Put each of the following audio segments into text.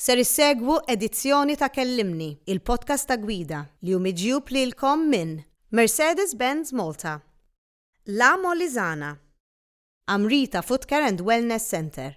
Ser issegwu edizzjoni ta' Kellimni, il-podcast ta' Gwida, li hu miġjub lilkom minn. Mercedes-Benz Malta. La Molisana. Amrita Footcare and Wellness Centre.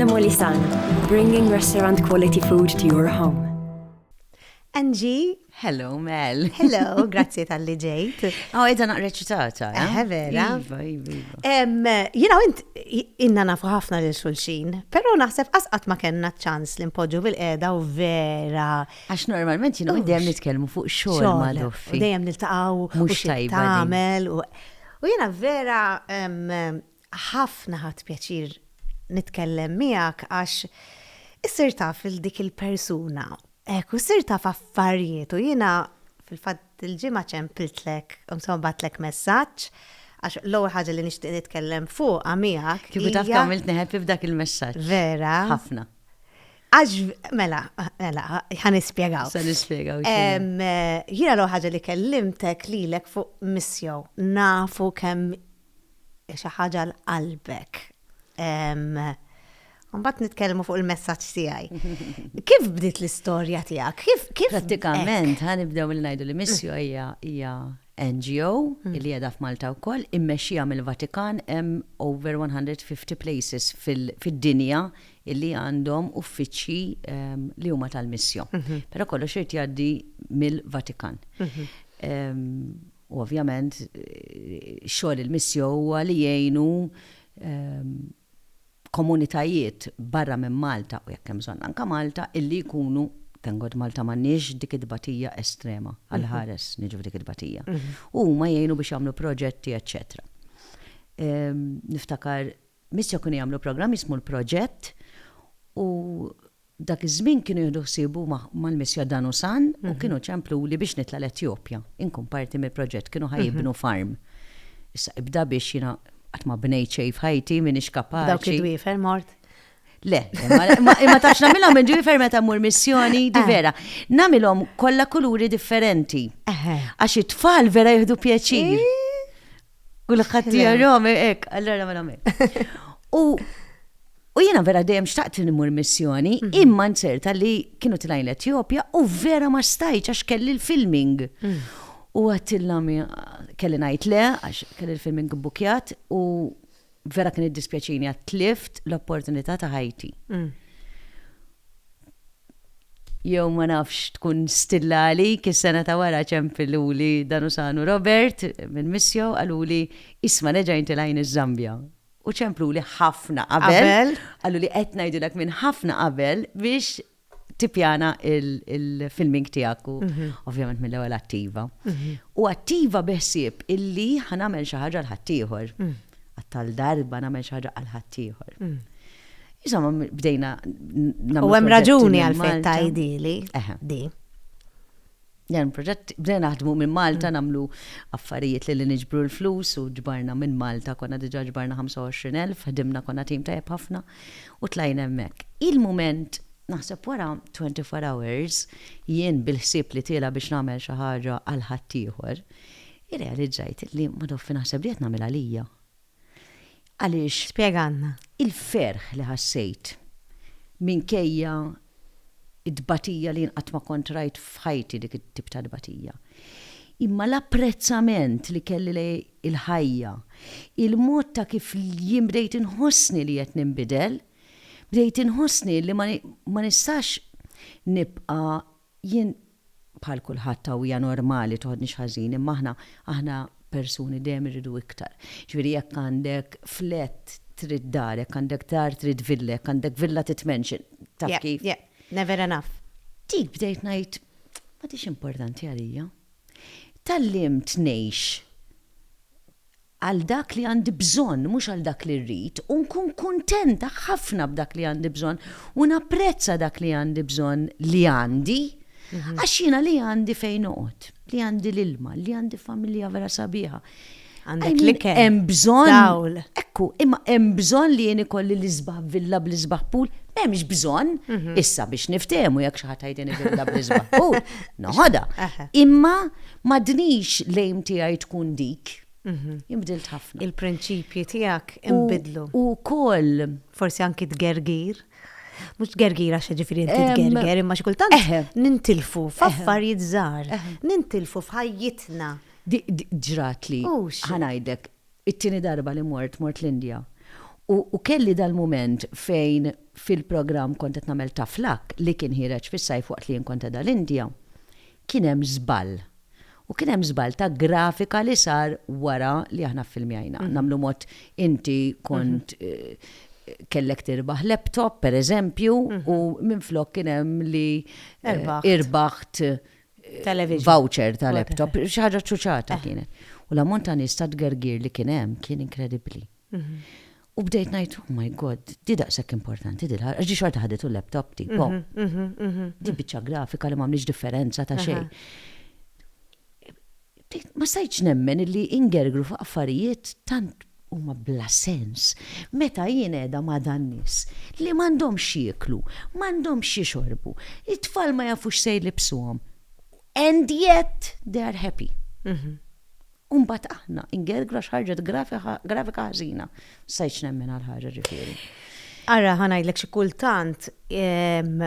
L-Molisan, bringing restaurant quality food to your home. Angie, hello Mel. Hello, grazie tal-li ġejt. Oh, edha naqreċitata. Eh? eh, vera. Iva, iva, iva. You know, int inna nafu ħafna lil xulxin, pero naħseb asqat ma kellna ċans li npoġġu bil-qeda u vera. Għax normalment jina dejjem nitkellmu fuq xogħol ma' doffi. Dejjem niltaqgħu u xi tagħmel u U jiena vera ħafna ħadt pjaċir nitkellem miegħek għax issir taf lil dik il-persuna. Hekk, u ssir taf affarijiet u jiena fil-fatt dil-ġimgħa ċempiltlek, insomma bagħtlek messaġġ għax l-ewwel ħaġa li nixtieq nitkellem fuqha miegħek. Kieku taf kemm għamiltni happy b'dak il-messaġġ. Vera. Ħafna. Għax, mela, mela, ħan ispiegaw. Sa nispiegaw. Jina l ħaġa li kellimtek li l fuq missjo, nafu kem xaħġa l-qalbek. Mbatt nitkellmu fuq il-messaċ tijaj. Kif bdiet l-istoria tijak? Kif? Pratikament, ħan ibdew mill najdu li missjo hija hija NGO mm. li jeda f'Malta u koll, immexxija mill-Vatikan hemm over 150 places fil-dinja illi għandhom uffiċċji li huma tal-missjo. Però kollox irid jgħaddi mill-Vatikan. U ovvjament xogħol il-missjo huwa li jgħinu komunitajiet barra minn Malta u jekk hemm bżonn anke Malta illi jkunu thank God Malta m'għandniex dik it-tbatija estrema għal ħares niġu f'dik it-tbatija. U huma jgħinu biex jagħmlu proġetti eċċetera. Niftakar Missja kienu jagħmlu programm jismu l-Proġett u dak iż-żmien kienu jieħdu ħsiebu mal-Missja dan u san u kienu ċempluli biex nitla' l-Etjopja, inkun parti mill-proġett, kienu ħa jibnu farm. Issa ibda biex jiena qatt ma bnejt xejn f'ħajti, m'iniex kapaċi. Dawk id-dwiefer mort? Le, imma tafx nagħmilhom minn ġifer meta mmur missjoni, di eh. vera. Nagħmilhom kollha kuluri differenti. Għax it-tfal vera jieħdu pjaċir. Eh. Kulħadd jarahom hekk, allura mela U U jiena vera dejjem xtaqt li nimur missjoni, mhm. imma nċerta li kienu tlajn l-Etjopja u vera ma stajċ għax kelli l-filming. Mhm. U għattilla kelli najt le, għax kelli l-filming bukjat u Vera kien iddispjaċini għat tlift l-opportunità ta' ħajti. Mm. Jew ma nafx tkun stilla għalik is-sena ta' wara ċempiluli dan usanu Robert minn missjo għaluli isma' neġajn tilajn iż-Zambja. U ċemplu li ħafna qabel. Għallu li qed ngħidilek minn ħafna qabel biex tippjana il-filming tiegħek u mhm. ovvjament mill-ewwel attiva. Mhm. U attiva beħsieb illi ħanamel xi ħaġa l-ħaddieħor. Mhm. Għattal darba nagħmel xi ħaġa għal ħaddieħor. Insomma, bdejna. U hemm raġuni għal fejn tajdili. Di. Dan il-proġett bdejna naħdmu minn Malta mm. nagħmlu affarijiet li niġbru l-flus u ġbarna minn Malta konna diġà ġbarna 25,000 ħdimna konna tim tajjeb ħafna u tlajna hemmhekk. Il-mument naħseb wara 24 hours jien bil-ħsieb li tiela biex nagħmel xi ħaġa għal ħaddieħor, irrealizzajt li ma doffi naħseb li qed nagħmel għalija. Għaliex? Spjegalna. Il-ferħ li ħassejt minkejja t-tbatija li jien qatt ma kont rajt f'ħajti dik it-tip ta' tbatija. Imma l-apprezzament li kelli lejn l-ħajja, il-mod ta' kif jien bdejt inħossni li qed ninbidel, bdejt inħossni li ma nistax nibqa' Jien bħal kulħadd hawn hija normali toħodnix ħażin imma aħna aħna persuni dejjem irridu iktar. Ġifieri jekk għandek flat trid dar, jekk għandek dar trid villa, jekk għandek villa trid mansion. Taf kif? Yeah, yeah. Never enough. Dik bdejt ngħid m'għadhiex importanti għalija. Tgħallimt ngħix għal dak li għandi bżonn mhux għal dak li rrid, u nkun kuntenta ħafna b'dak li għandi bżonn u napprezza dak li għandi bżonn li għandi, għax jiena li għandi fejn noqgħod, li għandi l-ilma, li għandi familja vera sabiħa. Għandek l-ikel. Hemm bżonn. Ekku, imma hemm bżonn li jien ikolli l-isbaħ villa bl-isbaħ pool, m'hemmx bżonn mhm. issa biex niftehmu jekk xi ħadd ħajdeni villa bl-isbaħ pool. Noħodha. Imma M'għadnix l-aim tiegħi tkun dik. Jien bdilt ħafna. Il-prinċipji tiegħek inbidlu. U wkoll. Forsi anki tgergir. Mhux tgergir għax ġifieri inti tgerger imma xi kultant nintilfu f'affarijiet żgħar. Nintilfu f'ħajjitna. Ġrat li. Ħa ngħidlek, it-tieni darba li mort, mort l-Indja. U kelli dal-mument fejn fil-programm kont qed nagħmel Tough Luck li kien ħiereġ fis-sajf waqt li jien kont qiegħda l-Indja. kien hemm żball. U kien hemm żball ta' grafika li sar wara li aħna ffilmjajna. Nagħmlu mod inti kont kellek tirbaħ laptop, pereżempju, u minflok kien hemm li irbaħt voucher ta' laptop, xi ħaġa ċċuċata kienet. U l-ammont ta' nies ta' tgergir li kien hemm kien inkredibbli. U bdejt ngħid, oh my God, di daqshekk importanti di l-ħarqa, ġi xorta ħaditu l-laptop tipo. Di biċċa grafika li m'għamlix differenza ta' xejn. Ma stajtx nemmen li ingergru fuq affarijiet tant huma bla sens. Meta jien qiegħda ma' dan nies li m'għandhomx jieklu, m'għandhomx jixorbu, it-tfal ma jafux se jlibsuhom. And yet they are happy. U mbagħad aħna, ingergru għax ħarġet grafika ħażina. Ma stajtx nemmen għal ħaġa ġifieri. Ara ħa ngħidlek xi kultant ehm,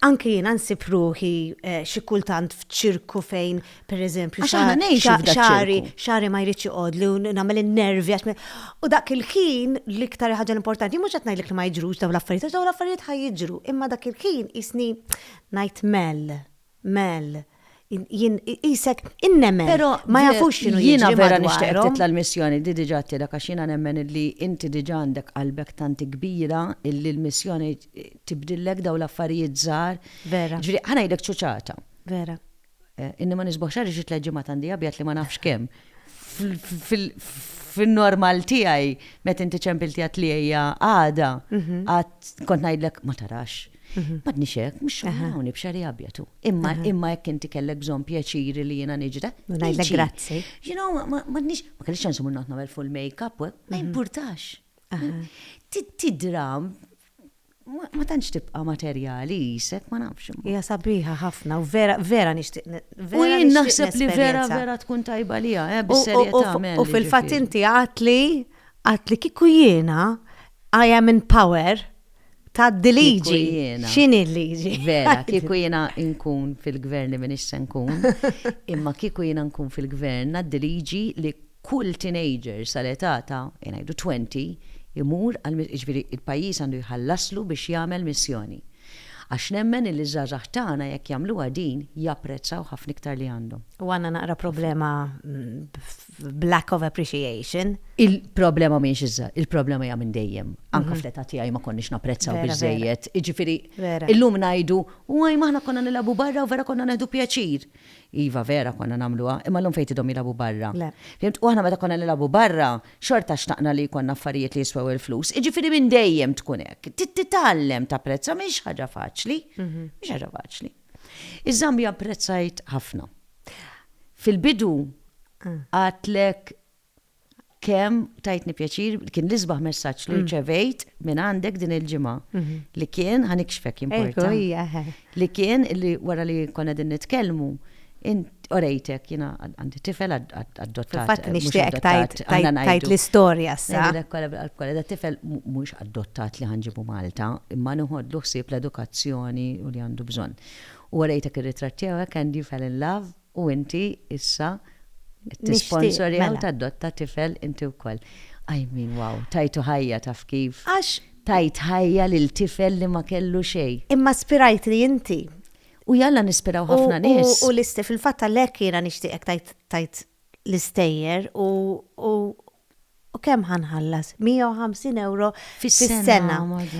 anke jiena nsib ruħi eh, xi kultant f'ċirku fejn pereżempju Għax aħna ngħixu xa- f'dak xari ċirku. xari ma jridx iqod li nagħmel in-nervi għax me- u dak il-ħin l-iktar ħaġa importanti mhux qed ngħidlek li ma jiġrux dawn l-affarijiet għax dawn l-affarijiet ħaj jiġru imma dak il-ħin isni ngħid mell. Mel. Jien qisek innemmen. Però ma jafux x'inhu jiġri madwarhom. Jiena vera nixtieqek titla' l-missjoni, di diġà għedtilek għax jiena nemmen illi inti diġà għandek qalbek tant kbira illi l-missjoni tibdillek dawn l-affarijiet żgħar. Vera. Jiġifieri, ħa ngħidlek ċuċata. Vera. Inni ma nisbuħx għaliex it-tliet ġimgħat għandi abjad li ma nafx kemm. fin-normal tiegħi meta inti ċempilti għat li hija għada, mhm. għad kont ngħidlek ma tarax. Mhm. Ma tnix hekk, mhux xogħol b'xari abjatu. Imma imma jekk inti kellek bżonn pjaċiri li jiena niġda. Ngħidlek grazzi. You know, ma tnix, ma kellix ċansu minn nagħmel full make-up, ma mhm. jimpurtax. Tidra ma tantx tibqa' materjali jisek, ma nafx. Hija sabiħa ħafna u vera vera nixtieq. U jien naħseb li vera vera tkun tajba li hija, eh, bis-serjetà U fil-fatt inti għatli għatli kieku jiena I am in power ta' diliġi. X'inhi l-liġi? Vera, kieku jiena nkun fil-gvern li minix se nkun, imma kieku jiena nkun fil-gvern għad-diliġi li Kull teenager sal-età ta', ngħidu, 20 imur għal, jiġifieri l-pajjiż għandu jħallaslu biex jagħmel missjoni. Għax nemmen illi ż-żgħażagħ tagħna jekk jagħmluha din japprezzaw ħafna iktar li għandhom. U għandna naqra problema b'lack of appreciation. Il-problema mhijiex iż-żgħa, il-problema hija minn dejjem. Anke fl-età tiegħi ma konniex napprezzaw biżżejjed. Jiġifieri illum ngħidu, waj m'aħna konna nilagħbu barra u vera konna nieħdu pjaċir. Iva vera konna nagħmluha, imma llum fejn tidhom jilagħbu barra. Le. Fimt? U aħna meta konna nilagħbu barra, xorta xtaqna li jkollna affarijiet li jiswew il-flus. Jiġifieri minn dejjem tkun hekk. Trid titgħallem tapprezza, mhix ħaġa faċli. Mhix ħaġa faċli. Iż-Żambja apprezzajt ħafna. Fil-bidu għedtlek kemm tajtni pjaċir, kien l-isbaħ messaġġ li mm. rċevejt minn għandek din il-ġimgħa mhm. li kien ħanikxfek importa. Li kien li wara li konna din nitkellmu orejtek jina għandi tifel adottat. Fatt eh, nixtieq tajt l-istorja sa. Da tifel mhux adottat li ħanġibu Malta, imma nħodlu ħsieb l-edukazzjoni u li għandu bżonn. U orejtek ir-ritratt tiegħek and you fell in love U inti issa qed tisponsorja u tadotta tifel inti wkoll. I mean wow, tajtu ħajja taf kif? Għax. Tajt ħajja lil tifel li ma kellu xejn. Imma spirajtli inti. U jalla nispiraw ħafna nies. U fil-fatt għalhekk jiena nixtieqek tgħid l-istejjer u u kemm ħa nħallas? 150 ewro fis-sena.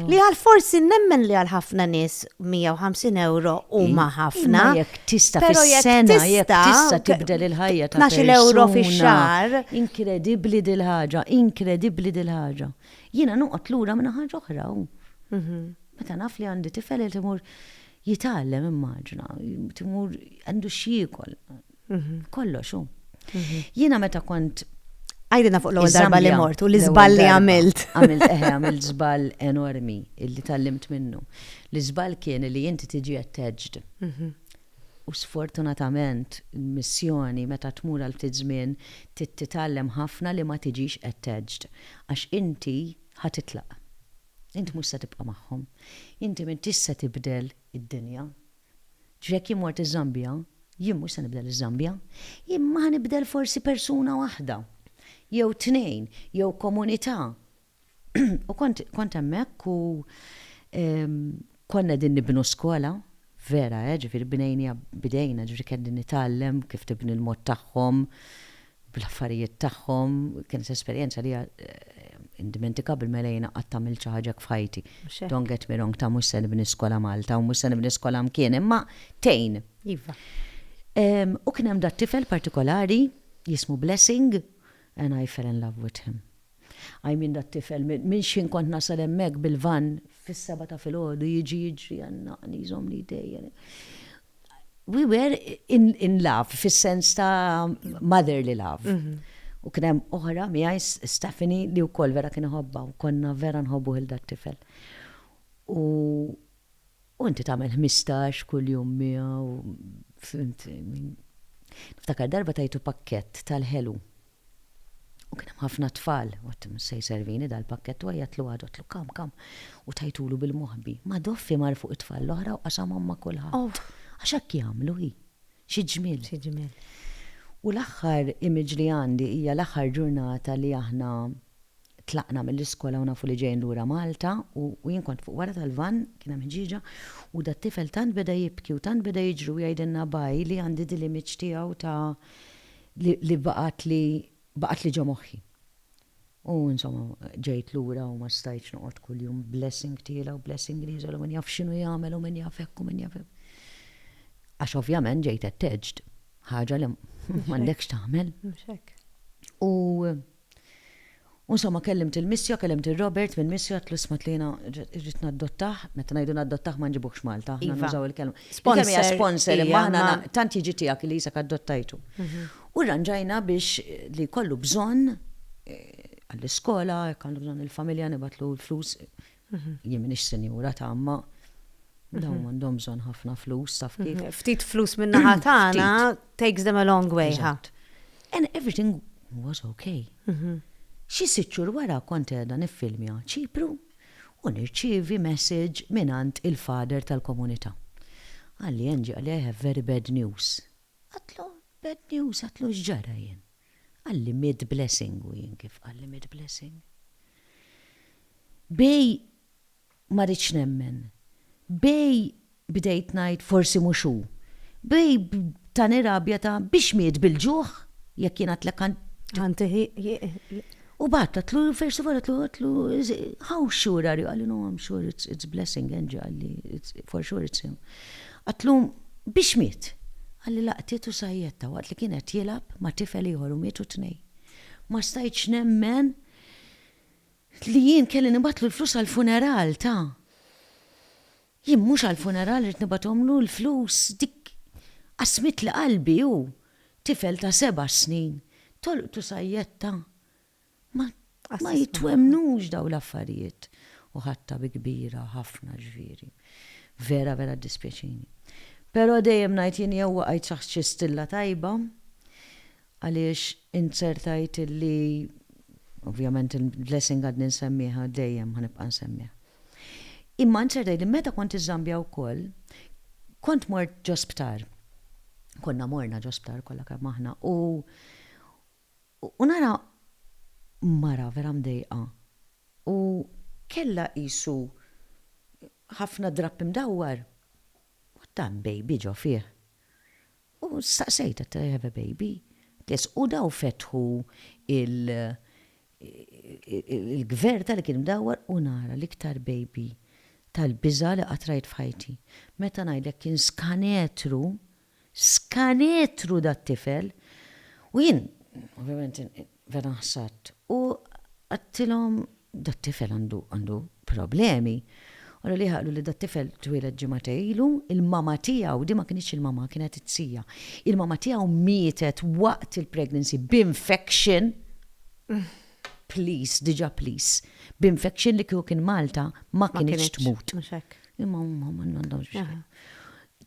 Li għal forsi nemmen li għal ħafna nies 150 ewro huma ħafna. Jekk tista' fis-sena, jekk tista' tibdel il-ħajja ta' 12 ewro fix-xahar. Inkredibbli dil-ħaġa, inkredibbli dil-ħaġa. Jiena noqgħod lura minn ħaġa oħra u meta naf li għandi tifel qed imur jitgħallem immaġina, qed imur għandu x'jiekol. Mhm. Kollox hu. Mhm. Jiena meta kont Għajdina fuq l-ewwel darba li mort u l-iżball li għamilt. Għamilt eħe, għamilt żball enormi illi tallimt minnu. L-iżball kien li inti tiġi attached. Mhm. U sfortunatament, missjoni meta tmur għal ftit żmien titallem ħafna li ma tiġix attached. Għax inti ħatitlaq. Inti mhux se tibqa' magħhom. Inti minn tista' tibdel id-dinja. Jekk jien mort iż-Żambja, jien mhux se nibdel iż-Żambja, imma ħa nibdel forsi persuna waħda, jew tnejn, jew komunità. U kont, kont hemmhekk u konna qegħdin nibnu skola, vera, eh, ġifieri bnejniha b'idejna, ġifieri qegħdin nitgħallem kif tibni l-mod tagħhom, bl-affarijiet tagħhom, kienet esperjenza li hija indimentikabbli mela jiena qatt għamilt xi ħaġa hekk f'ħajti. Mhux hekk. Don't get me wrong ta' mhux se nibni skola Malta u mhux se nibni skola mkien imma tgħin. Iva. U kien hemm dat-tifel partikolari jismu Blessing and I fell in love with him. Qajmin dat-tifel, minn x'ħin kont nasal hemmhekk bil-vann fis-sebgħa ta' filgħodu, jiġi jiġri, jgħannaqni, jżommni jdejjel. We were in, in love, fis-sens ta' motherly love. U kien hemm oħra miegħi, Stephanie, li wkoll vera kien iħobbha u konna vera nħobbuh 'il dat-tifel. U U inti tagħmel ħmistax kuljum miegħu, fhimt? Niftakar darba tajtu pakkett tal-ħelu. U kien hemm ħafna tfal, u għedt mhux se jservini dal-pakkett u għajjatlu għadu għedtlu kam kam u tajtulu bil-moħbi. Ma doffi mar fuq it-tfal l-oħra u qasamhom ma' kulħadd. Għax hekk jagħmlu hi. Xi ġmiel. Xi ġmiel. U l-aħħar image li għandi hija l-aħħar ġurnata li aħna Tlaqna mill-iskola u nafu li ġejjin lura Malta u jien kont fuq wara tal-vann, kien hemm ħġieġa, u dat-tifel tant beda jibki u tant beda jiġri u jgħidilna bye li għandi din l-image tiegħu ta' li li baqgħatli baqgħatli ġo moħħi. U insomma ġejt lura u ma stajtx noqgħod kuljum blessing tiela u blessing l-iżel u min jaf x'inhu jagħmel u min jaf hekk u min jaf hekk. Għax ovvjament ġejt attached. Ħaġa li m'għandekx tagħmel. U. U insomma kellimt il-Missio, kellimt lil Robert mill-Missio għedtlu isma' għedtlu jiena rrid naddottah, meta ngħidu naddottah ma nġibuhx Malta, aħna nużaw il-kelma. Il-kelma hija sponsor imma aħna tant jiġi tiegħek li qisek addottajtu. U rranġajna biex li jkollu bżonn għall-iskola, jekk għandu bżonn il-familja nibgħatlu l-flus Jien m'iniex sinjura ta' imma dawn għandhom bżonn ħafna flus, taf kif. Ftit flus min-naħa tagħna takes them a long way, ħa. And everything was okay. Xi sitt xhur wara kont qiegħda niffilmja Ċipru u nirċievi message mingħand il-father tal-komunità. Qalli, Angie, qalli, I have very bad news. Għadtlu, bad news, għadtlu x'ġara jien? Qalli miet Blessing u jien kif qalli miet Blessing? B'hej ma ridtx nemmen, b'hej bdejt ngħid forsi mhux hu, b'hej tani rabja ta' biex miet bil-ġuħ jekk jien għadtlek ħa. Ħa ntieħ. U bagħtatlu versi bagħtatlu għatlu, how sure are you? Għalli, no, I'm sure it's, it's blessing, Angie, għalli, for sure it's him. Għatlu, biex miet? Għalli laqtiet u sajjetta waqt li kien qed jilgħab ma' tifel ieħor u mietu tnejn. Ma stajtx nemmen li jien kelli nibgħatlu l-flus għall-funeral ta'. Jien mhux għall-funeral ridt nibgħathomlu l-flus, dik qasmitli qalbi hu, tifel ta' seba' snin, tolqtu sajjetta. Ma ma jitwemmnux dawn l-affarijiet. U ħadtha bi kbira ħafna ġifieri. Vera vera ddispjaċini. Però dejjem ngħid jien jew waqajt taħt xi stilla tajba għaliex int ser tgħid illi, ovvjament il-blessing għadni nsemmieha dejjem ħa nibqa' nsemmiha. Imma int ser tgħidli meta kont iż-Żambja wkoll kont mort ġo sptar. Konna morna ġo sptar kollha kemm aħna u u nara mara vera mdejqa u kellha qisu ħafna drapp imdawwar u tant baby ġo fih. U staqsejtha, do you have a baby? Qtli yes. U daw fetħu il il-gvern tagħli kien mdawwar u nara l-iktar baby tal-biża' li qatt rajt f'ħajti. Meta ngħidlek kien skanetru, skanetru dat-tifel! U jien ovvjament vera nħsadt u għedtilhom dat-tifel għandu, għandu, problemi, qalu li qalu li dat-tifel twieled ġimgħatej ilu, il-mama tiegħu, din ma kinitx il-mama, kienet it-tija, il-mama tiegħu mietet waqt il-pregnancy b'infection, please, diġà please, b'infection li kieku kien Malta ma kinitx tmut. Imma huma ma għandhomx biex.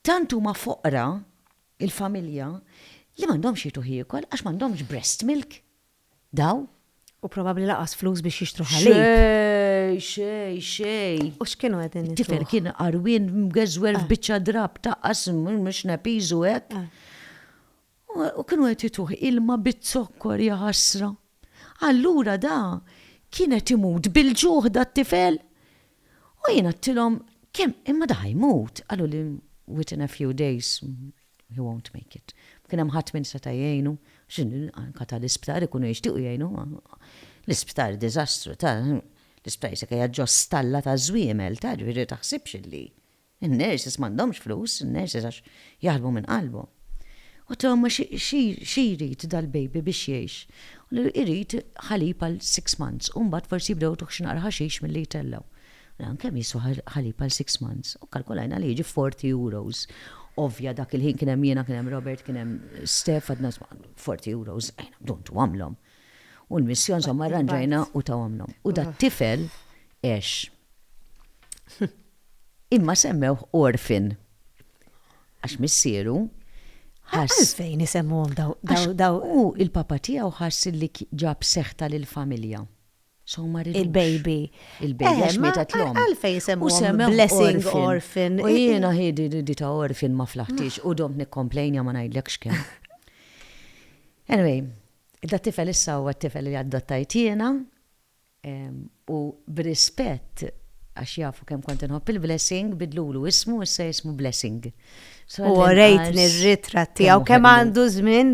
Tant huma foqra il-familja li m'għandhomx jitu ħiekol għax m'għandhomx breast milk. Daw? U probabbli laqas flus biex jixtru ħalib. Xej, xej, xej. U x'kienu qegħdin nitru? Tifel kien qarwien mgeżwer f'biċċa drab taqqas mhux nepiżu hekk. U kienu qed jituh ilma biz-zokkor ja ħasra. Allura da kien qed imut bil-ġuħ da t-tifel. U jien għedtilhom kemm imma da ħajmut. Qalu li within a few days He won't make it. Ma kien hemm ħadd min seta' jgħinu. Anke tal-isptar ikunu jixtiequ jgħinu. L-isptar diżastru ta'. L-isptar jista' jkun qiegħed ġo stalla ta' żwiemel ta', ġifieri ma taħsibx illi. In-nurses m'għandhomx flus, in-nurses għax jaħdmu minn qalbhom. Qltlu għaw ma xi jrid dal-baby biex jgħix? Irid ħalib għal six months u mbagħad forsi jibdew jagħtuh xi naqra ħaxix milli jtellgħu. Dan kemm jiswa ħalib għal six months u kkalkulajna li jiġi forty euros. Ovvja dak il-ħin kien hemm jiena, kien hemm Robert, kien hemm Steph għadna forty euros ejna bdu ntuhomlhom. U l-missja insomma rranġajna u tawhomlhom. U dat-tifel għex. Imma semmewh orphan għax missieru ħass. Għalfejn isemmuhom daw daw daw? Hu l-papa tiegħu ħass li ġab seħta lill-familja. X'hawn ma ridux. Il-baby. Il-baby għax mietet l-omm. Eh, ma għalfejn semmuhom blessing orphan. U jiena hi di ta' orphan ma flaħtix u domt nikkomplejnja ma ngħidlekx kemm. Anyway, dat-tifel issa huwa t-tifel li adottajt jiena u b'rispett għax jafu kemm kont inħobb il-Blessing bidlulu ismu u issa jismu Blessing. U rejtni r-ritra tiegħu kemm għandu żmien.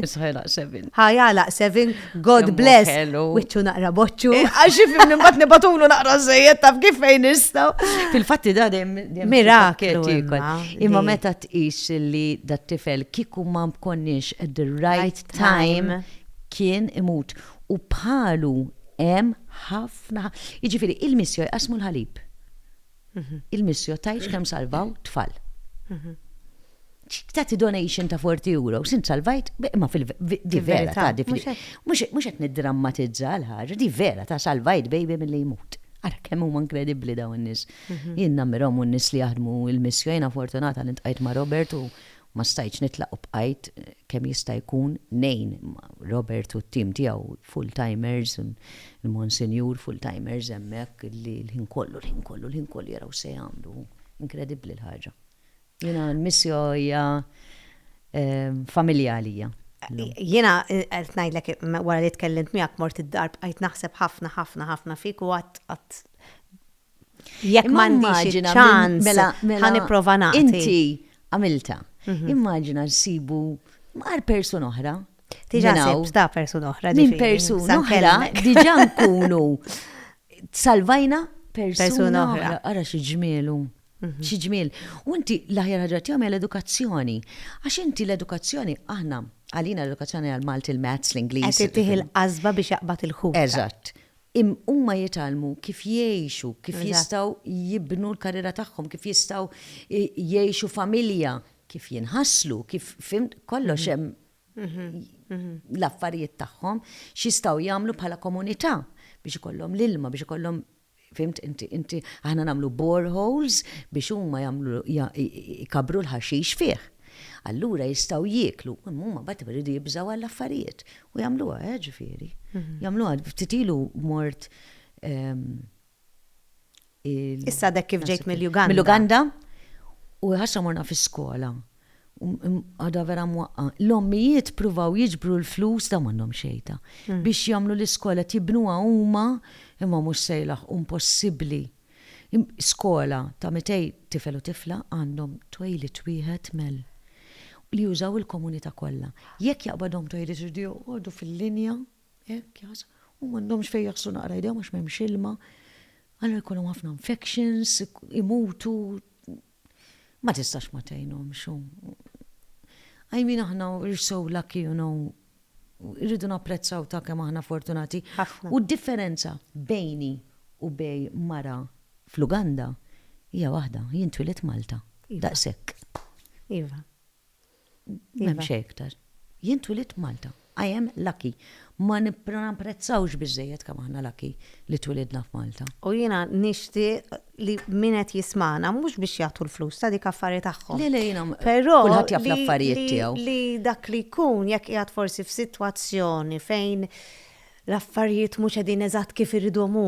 Ħajalaq sevin, God bless. Wiċċu naqra boċċu. Eh, għax ifimni mbagħad nibatulu naqra żejjed taf kif fejn nistgħu. Fil-fatti da dejjem miraklu. Imma meta tqis li dat tifel kieku ma konniex at the right time kien imut u bħalu hemm ħafna. Jiġifieri il-missjoj qasmu l-ħalib. Il-missio tgħidx kemm salvaw tfal. Ċ tagħti donation ta' 40 euro, sint salvajt, imma fil-di vera ta' di fil Mhux qed niddrammatizza l-ħaġa, di vera ta' salvajt baby milli jmut. Ara kemm huma inkredibbli dawn in-nies. Jien nammirhom u n-nies li jaħdmu l-missio, jiena fortunata li ntqajt ma' Robert u ma stajtx nitlaq u bqajt kemm jista' jkun ngħin ma' Robert u t-tim tiegħu full timers, il-Monsinjur full timers hemmhekk li l-ħin kollu, l-ħin kollu, l-ħin kollu jaraw x'se jagħmlu. Inkredibbli l-ħaġa. Jiena l-Missio hija familja għalija. Jiena qed ngħidlek wara li tkellimt miegħek mort id-dar bqajt naħseb ħafna ħafna ħafna fik u għadt Jekk Imma m'għandix immaġina minn- ċans, mela- mela- ħa nipprova nagħti. Inti għamilta. Immaġina nsibu għar persuna oħra. Diġà minn hawn. sibt ta' persuna oħra. Minn ġifieri, persuna sa oħra nkellmek. diġà nkunu salvajna Persuna persuna oħra. oħra. Ara xi ġmielu. Xi ġmiel. U inti l-aħjar ħaġa tiegħu hija l-edukazzjoni. Għax inti l-edukazzjoni aħna għalina l-edukazzjoni għal Malti l-Mats, l-Ingliż. Qed ittih il-qasba biex jaqbad il-ħut. Eżatt. Huma jitgħallmu kif jgħixu, kif jistgħu jibnu l-karriera tagħhom, kif jistgħu jgħixu familja, kif jinħaslu, kif fimt, kollox hemm l-affarijiet tagħhom, x'jistgħu jagħmlu bħala komunità biex ikollhom l-ilma, biex ikollhom, fimt inti, aħna nagħmlu boreholes biex huma jagħmlu, jkabbru l-ħaxix fih. Allura jistgħu jieklu, imma huma mbagħad iridu jibżgħu għall-affarijiet. U jagħmluha, eh, ġifieri. Mhm. Jagħmluha ftit ilu mort ehm, Issa dek kif ġejt mill-Uganda. Mill-Uganda u ħassa morna fi skola. Għada vera mwaqqa. L-ommijiet pruvaw jiġbru l-flus da mannom xejta. Mhm. Biex jamlu l-iskola tibnuha huma imma mhux sejlaħ impossibbli. Skola ta' 200 tifel u tifla għandhom toilet wieħed mel. Li jużaw il-komunità kollha. Jekk jaqbadhom toilet iridu joqogħdu fil-linja hekk jaħs. U m'għandhomx fejn jaħslu naqra jdejhom għax m'hemmx ilma. Allura jkollhom ħafna infections, imutu, Ma tistax ma tgħinhomx u I mean aħna we're so lucky you know irridu napprezzaw ta' kemm aħna fortunati. U d-differenza bejni u bejn mara fl-Uganda hija waħda, jien twielidt Malta. Daqshekk. Iva. M'hemm iva. xejn iktar. Jien twilit Malta. I am lucky. Ma napprezzawx biżejjed kemm aħna lucky li twilidna f'Malta. U jiena nixtieq li min qed jismagħna mhux biex jagħtu l-flus ta' dik affari tagħhom. Le le jiena kulħadd jaf l-affarijiet tiegħu. Li dak li jkun jekk qiegħed forsi f'sitwazzjoni fejn l-affarijiet mhux qegħdin eżatt kif iridhom hu,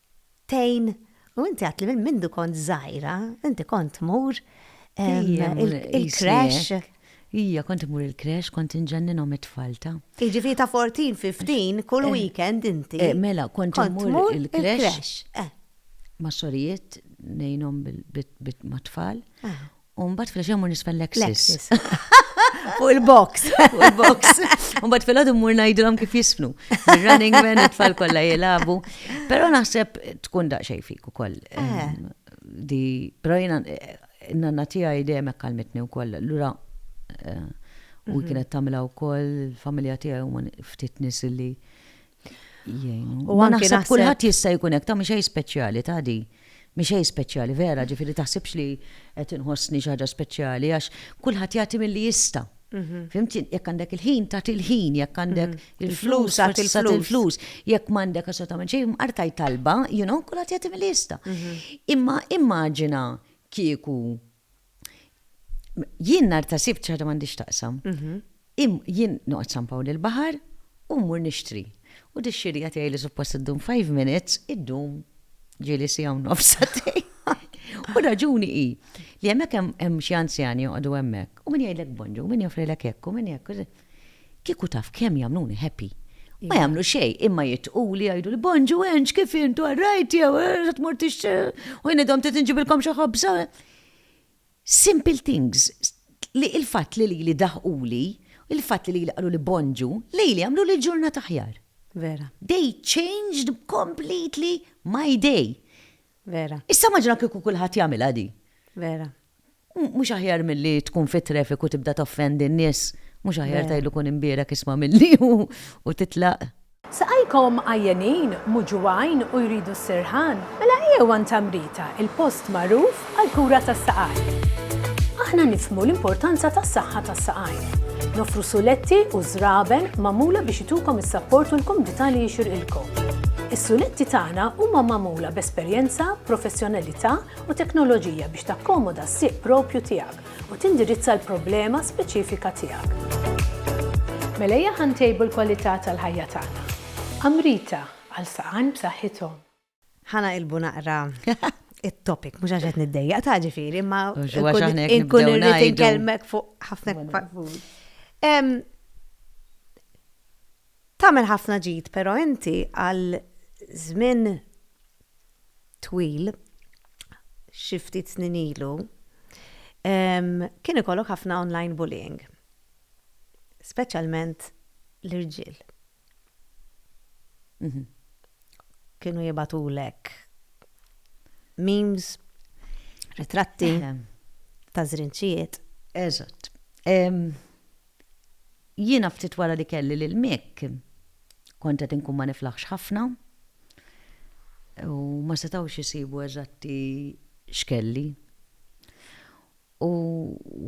tgħin u inti għatli minn mindu kont żgħira, inti kont tmur il-crash. Ija, kont imur il-kresh, kont inġenninhom it-tfalta. Iġifi ta' 14, 15, kull eh, weekend inti. Eh, mela, kont imur il-kresh. Eh. Ma' xorijiet nejnom bit ma' tfal. U mbagħad fil ġemur nisfel Lexis. Fuq il-box. Fuq il-box. Mbagħad fil-għadu mmur ngħidilhom kif jisfnu. Running man it-tfal kollha jilagħbu. Però naħseb tkun daqsxejn fik ukoll. Eh. Di, però jiena eh, nanna tiegħi dejjem hekk kalmitni wkoll. Lura eh, u mhm. kienet tagħmilha wkoll il-familja tiegħi huma ftit nies li U għan naħseb kulħadd jista' jkun hekk ta' mhix speċjali ta' di. Mhix speċjali vera, ġifieri taħsibx li qed inħossni xi ħaġa speċjali għax kulħadd jagħti milli jista'. Mhm. Fimti, jekk għandek il-ħin ta' il-ħin, jekk għandek mhm. il-flus ta' il-flus, jekk m'għandek assolutament xejn, artaj talba, you know, kulħadd jagħti milli jista'. Mhm. Imma immaġina kieku Jien nar ta' sibt ċaħda m'għandix taqsam. Mhm. Jien noqgħod San Pawl il-Baħar u mmur nixtri. U dix-xirja tiegħi li suppost iddum five minutes, iddum ġieli siegħa u nofs satej. U raġuni hi li hemmhekk hemm xi anzjani joqogħdu hemmhekk u min jgħidlek bonġu, min joffrilek hekk u min hekk. Kieku taf kemm jagħmluni happy. Ma jagħmlu xejn, imma jitquli jgħiduli bonġu enġ kif intu għarrajt jew eh, tmur tix u jien idhom trid inġibilkom xi ħobża. Simple things li il-fatt li li daħquli, il-fatt li li qalu li bonġu, li li għamlu li ġurnat aħjar. Vera. They changed completely my day. Vera. Issa maġna kieku kulħadd jagħmilha di. Vera. Mhux aħjar milli tkun fit-traffic u tibda toffendi n-nies, mhux aħjar tgħidlu kun imbierek isma' milli u titlaq? Saqajkom għajjenin, muġugħin u jridu s-sirħan? Mela ejjew għand Amrita, il-post magħruf għall-kura tas-saqajn. Aħna nifhmu l-importanza tas-saħħa tas-saqajn. Noffru suletti u żraben magħmula biex itukom is-sapport u l-kumdità li jixirqilkom. Is-suletti tagħna huma magħmula b'esperjenza, professjonalità u teknoloġija biex takkomoda s-sieq proprju tiegħek u tindirizza l-problema speċifika tiegħek. Mela ejja ħa ntejbu l-kwalità tal-ħajja tagħna. Amrita, għal saqajn b'saħħithom. Ħa naqilbu naqra it-topic, mhux għax qed niddejjaq ta' ġifieri, imma nkun irrid inkellmek fuq ħafna Tagħmel ħafna ġid però inti għal żmien twil, xi ftit snin ilu, kien ikollok ħafna online bullying, speċjalment l-irġiel kienu jibgħatulek memes, ritratti ta' żrinċijiet. Eżatt. Jiena ftit wara li kelli lil Mick, kont qed inkun ma niflaħx ħafna u ma setgħux isibu eżatti x'kelli. U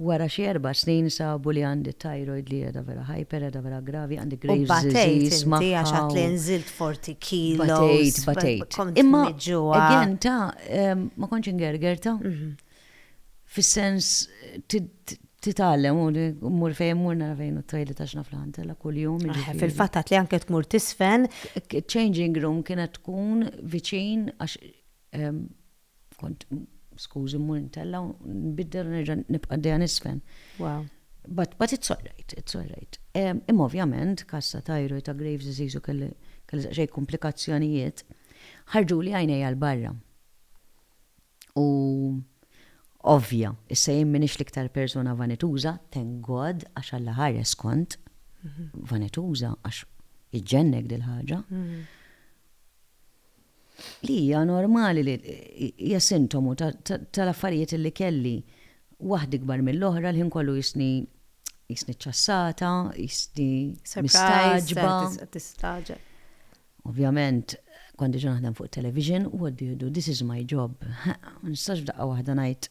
wara xi erba' snin sabu li għandi t-thyroid li qiegħda vera hyper, qiegħda vera gravi, għandi Graves' disease magħha. U batejt inti għax għedt li nżilt 40 kilos. Batejt, batejt. Imma kont miġġugħa. Imma again ta' ma kontx ingergerta. Fis-sens titgħallem u mmur fejn mmur nara fejn u t-toilet għax naf l-ħantela kuljum. Fil-fatt għad li anke tmur tisfen. Changing room kienet tkun viċin għax kont skużi mmur intella u nbiddel nerġa' nibqa' dejja nisfen. Wow. But, but it's alright, it's alright. Imma ovvjament, kassa tajru ta' Graves disease u kelli xej komplikazzjonijiet, ħarġu li għajnejja l-barra. U ovvja, issa jien m'iniex l-iktar persuna vanituża, thank God, għax Alla ħares kont vanituża għax iġġennek dil-ħaġa. Li hija normali li hija sintomu tal-affarijiet li kelli waħda ikbar mill-oħra l-ħin kollu jisni jisni ċassata, jisni mistagħġba. Tistaġeb. Ovvjament, kont diġà naħdem fuq it-television, what do you do, this is my job. Ma nistax f'daqqa waħda ngħid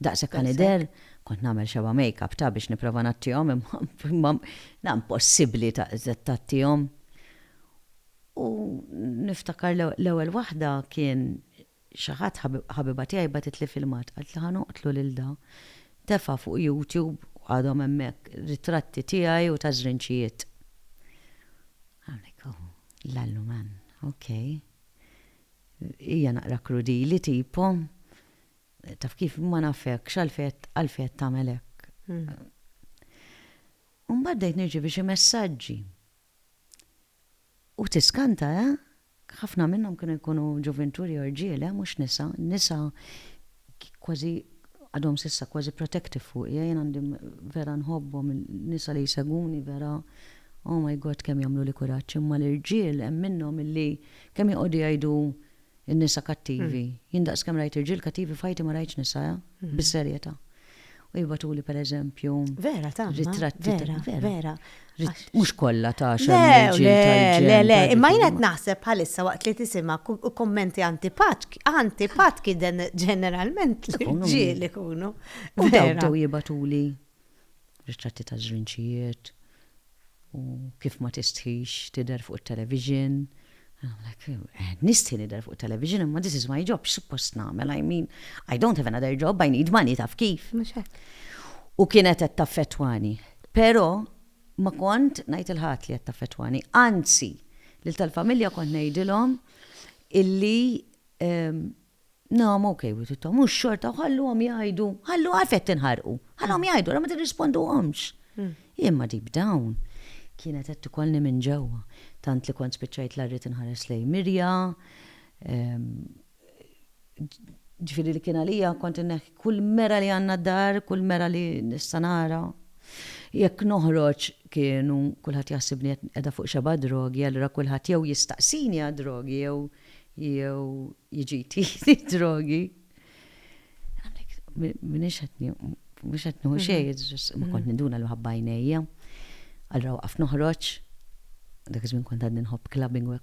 daqshekk ħa nidher, kont nagħmel xebgħa make-up ta' biex nipprova ngħattihom imma la impossibbli tgħattihom. U niftakar l-ewwel waħda kien Xi ħadd, ħabiba tiegħi bagħtitli filmat, qaltli ħa noqtlu lil da. Tefa' fuq YouTube, u għadhom hemmhekk, ritratti tiegħi u ta' żrinċijiet. Hawnhekk hu, l-alluman. Ok. Hija naqra krudili tipo, taf kif, ma nafekx għalfejn qed tagħmel hekk. U mbagħad bdejt nirċievi xi messaġġi. U tiskanta, eh? Ħafna minnhom kienu jkunu ġuvinturi jew rġiel, eh, mhux nisa. Nisa kważi għadhom s'issa kważi protective fuqi, eh, jien għandi vera nħobbhom in-nisa li jsegwuni vera, oh my God kemm jagħmluli kuraġġ, imma l-irġiel hemm minnhom illi kemm joqogħdu jgħidu n-nisa kattivi. Jien daqskemm rajt irġiel kattivi f'ħajti ma rajtx nisa, eh, bis-serjetà. u jibgħatuli pereżempju. Vera ta' ritratti vera. Vera. Mhux kollha ta' xemmeġ. Le, le, le, imma jien qed naħseb bħalissa waqt li tisimha kummenti antipatki, antipatki den ġeneralment l-irġiel ikunu. U dawn bdew jibgħatuli ritratti ta' żrinċijiet, u kif ma tistħix tidher fuq it-television. Qed nistħi nidher fuq it-television imma this is my job, x'suppost nagħmel? I mean, I don't have another job, I need money, taf kif? U kienet qed taffettwani. Però ma kont ngħid lil ħadd li qed taffettwani. Anzi, lil tal-familja kont ngħidilhom illi No, I'm okay with it, mhux xorta u ħalluhom jgħidu, ħallu għalf qed tinħarqu, ħalluhom jgħidu, ra ma tirrisponduhomx. Hmm. Imma deep down kienet qed tikolni minn ġewwa, tant li kont spiċċajt la rrid inħares lej Mirja, ehm, ġifiri li kien għalija kont neħ kull mera li għanna dar, kull mera li nistanara. Jekk noħroġ kienu kulħadd jaħsibni edha fuq xeba drogi, allura kulħadd jew jistaqsini għad drogi jew jew jiġi jtiri drogi. Minix għetni, mux għetni u xej, ma kont niduna l ħabba jnejja. Għallra waqaf noħroċ, dak iż-żmien kont għadni nħobb clubbing u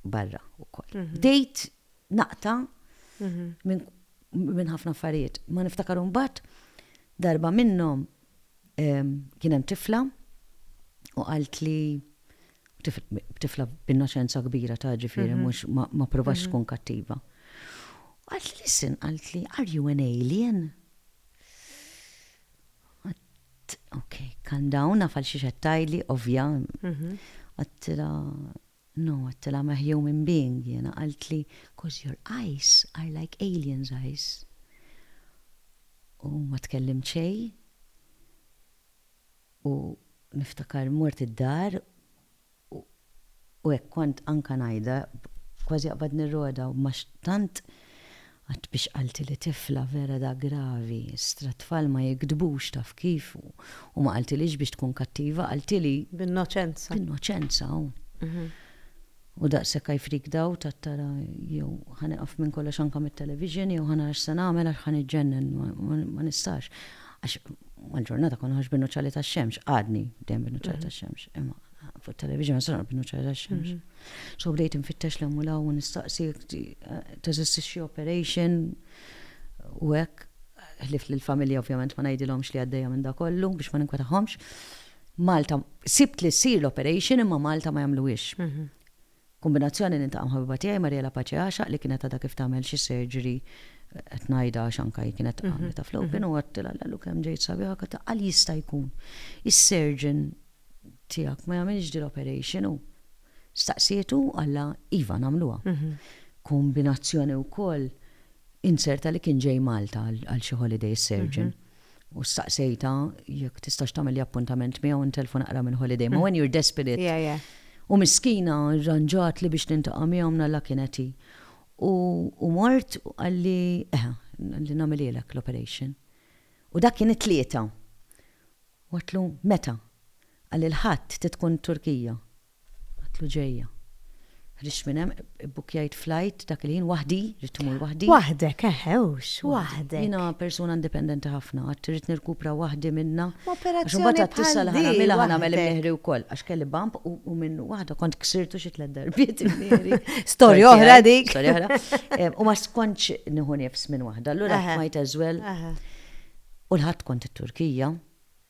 barra u koll. Mhm. Dejt naqta mhm. minn ħafna affarijiet. Ma niftakar un bat, darba minnom kienem tifla u għalt li tifla b'innoċenza kbira ta' ġifieri mhux ma provax tkun kattiva. Qalt li listen, qalt li are you an alien? Għadt, ok, calm down, naf għal xiex qed tgħidli, ovvja. Għadtilha, no, għadtilha I'm a human being jiena, qalt li cos your eyes are like alien's eyes. U ma tkellimt xejn. U niftakar mort id-dar u hekk kont anke ngħidha kważi aqbad nirrodha u ma tant qatt biex qaltili tifla vera da gravi, stra tfal ma jigdbux taf kif u ma qaltilix biex tkun kattiva qaltili. B'innoċenza. B'innoċenza u. U daqshekk I freaked out, għadt tara jew ħa nieqaf minn kollox anke mit-television jew ħa nara x'se nagħmel għax ħa niġġennen, ma nistax. Għax mal-ġurnata kont noħroġ bin-nuċċali tax-xemx, għadni dejjem bin-nuċċali tax-xemx, imma fuq it-television ma nistax noqgħod bin-nuċċali tax-xemx. So bdejt infittex 'l hemm u 'l hawn u nistaqsi teżisti xi operation u hekk, ħlief li l-familja ovvjament ma ngħidilhomx li għaddejja minn dakollu biex ma ninkwetahomx. Malta, sibt li ssir l-operation imma Malta ma jagħmluhiex. Kombinazzjoni niltaqa' mħabiba tiegħi Mariela Pace Għaxaq li kienet għadha kif tagħmel xi surgery qed ngħidha għax anke hi kienet għamlitha fl-open u għedtilha lelu kemm ġejt sabiħa għedtilha għal jista' jkun is-surgeon tiegħek ma jagħmilx din l-operation u staqsietu u qalha iva nagħmluha. Kombinazzjoni wkoll inzerta li kien ġej Malta għal xi holiday is-surgeon. u staqsejtha jekk tistax tagħmel appuntament miegħu ntelfu naqra minn holiday. Ma when you're desperate. U miskina rranġat li biex nintaqa' miegħu mnalla kienet hi. U mort u qalli eħe, li nagħmilhielek l-operation. U dak kien it-Tlieta. U għedtlu meta? Qalli l-Ħadd trid tkun Turkija. Għadtlu ġejja. Ħriġt minn hemm, ibbukkjajt flight dak il-ħin waħdi, ridt immur waħdi. Waħdek, eħe hux, waħdek. Jiena persuna indipendenti ħafna, għad irrid nirkupra waħdi minnha. Għax imbagħad għad tista' li ħa nagħmilha, ħa nagħmel il-mihri wkoll. Għax kelli bump u minnu waħda kont ksirtu xi tliet darbiet il-mihri. Storja oħra dik. Storja oħra. U ma skontx nieħu nifs minn waħda, allura might as well. U l-Ħadd kont it-Turkija.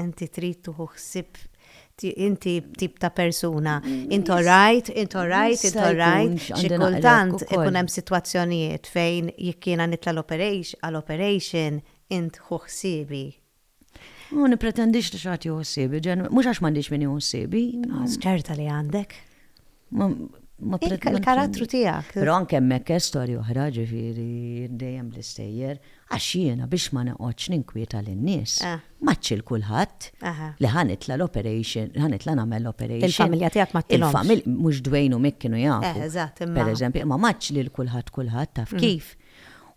Inti trid tieħu ħsieb inti tip ta' persuna. Int orajt, int orajt, int orajt, xi kultant ikun hemm sitwazzjonijiet fejn jekk jiena nitla' għal operation int ħu ħsiebi. Ma nippretendix li xi ħadd jieħu ħsiebi, mhux għax m'għandix min jieħu ħsiebi. Ċerta li għandek. Il-karattru tijak. Pero anke mekke storja oħra ġifiri dejjem l-istejjer. Għax jiena biex ma neqgħodx ninkwieta lin-nies. Eh. Maċċi l-kulħadd. Li ħanitla l-operation, ħanitla nagħmel l-operation. Il-familja tiegħek ma tilhomx. Il-familja mhux Dwayne u Mick kienu jafu. Eh, eżatt, imma. Per eżempju, imma maċċ lil kulħadd kulħadd taf mm. kif.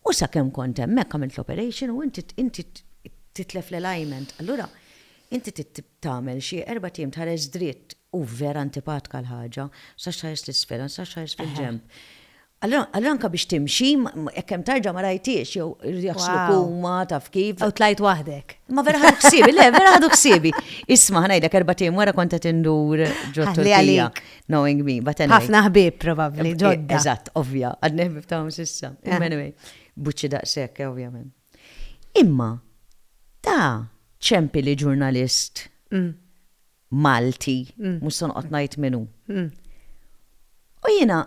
U sakemm kont hemmhekk għamilt l-operation u inti titlef l-alignment. Allura, inti tagħmel xi erbat ijiem tħares dritt u vera antipatka l-ħaġa, tistax tħares 'l isfel, ma tistax tħares fil-ġenb. Allura anke biex timxi, jekk hemm tarġa ma rajthiex jew iridu jaħsluk huma taf kif. U tlajt waħdek. Ma vera ħadu ħsiebi, le vera ħadu ħsiebi. Isma' ħa ngħidlek erbat ijiem wara kont qed indur ġot-Turkija, knowing me, but anyway. Ħafna ħbieb probabbli ġodda. Eżatt, ovvja, għadni ħbieb tagħhom s'issa. Anyway, buċċi daqshekk, ovvjament. Imma ta ċempi li ġurnalist Malti, mhux se noqgħod ngħid min hu. U jiena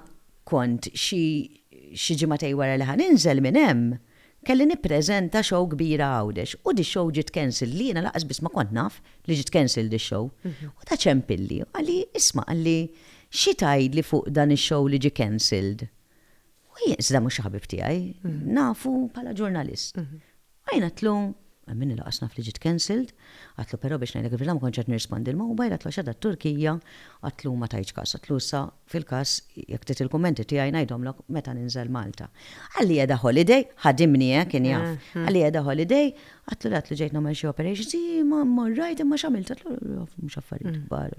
kont xi ġimagħtej wara li ħa ninżel minn hemm, kelli nippreżenta show kbira Għawdex u dix-show ġiet cancelled li jiena lanqas biss ma kont naf li ġiet cancelled dix-show. U ta ċempilli u qalli, isma' qalli, xi tgħidli fuq dan ix-show li ġie cancelled? U jien, iżda mhux ħabib tiegħi, nafu bħala ġurnalist. U jien għatlu, minn il-qas naf li ġiet cancelled, għatlu però biex ngħidlek il-verità ma kontx qed nirrispondi l-mobile, għatlu għax għadha Turkija, għatlu ma tajtx każ, għatlu issa fil-każ jekk trid il-kummenti tiegħi ngħidhomlok meta ninżel Malta. Qalli qiegħda holiday, ħadimni eh, kien jaf, qalli qiegħda holiday, għatlu le għatlu ġejt nagħmel xi operations, imma rajt imma x'għamilt, għatlu mhux affarijiet kbar.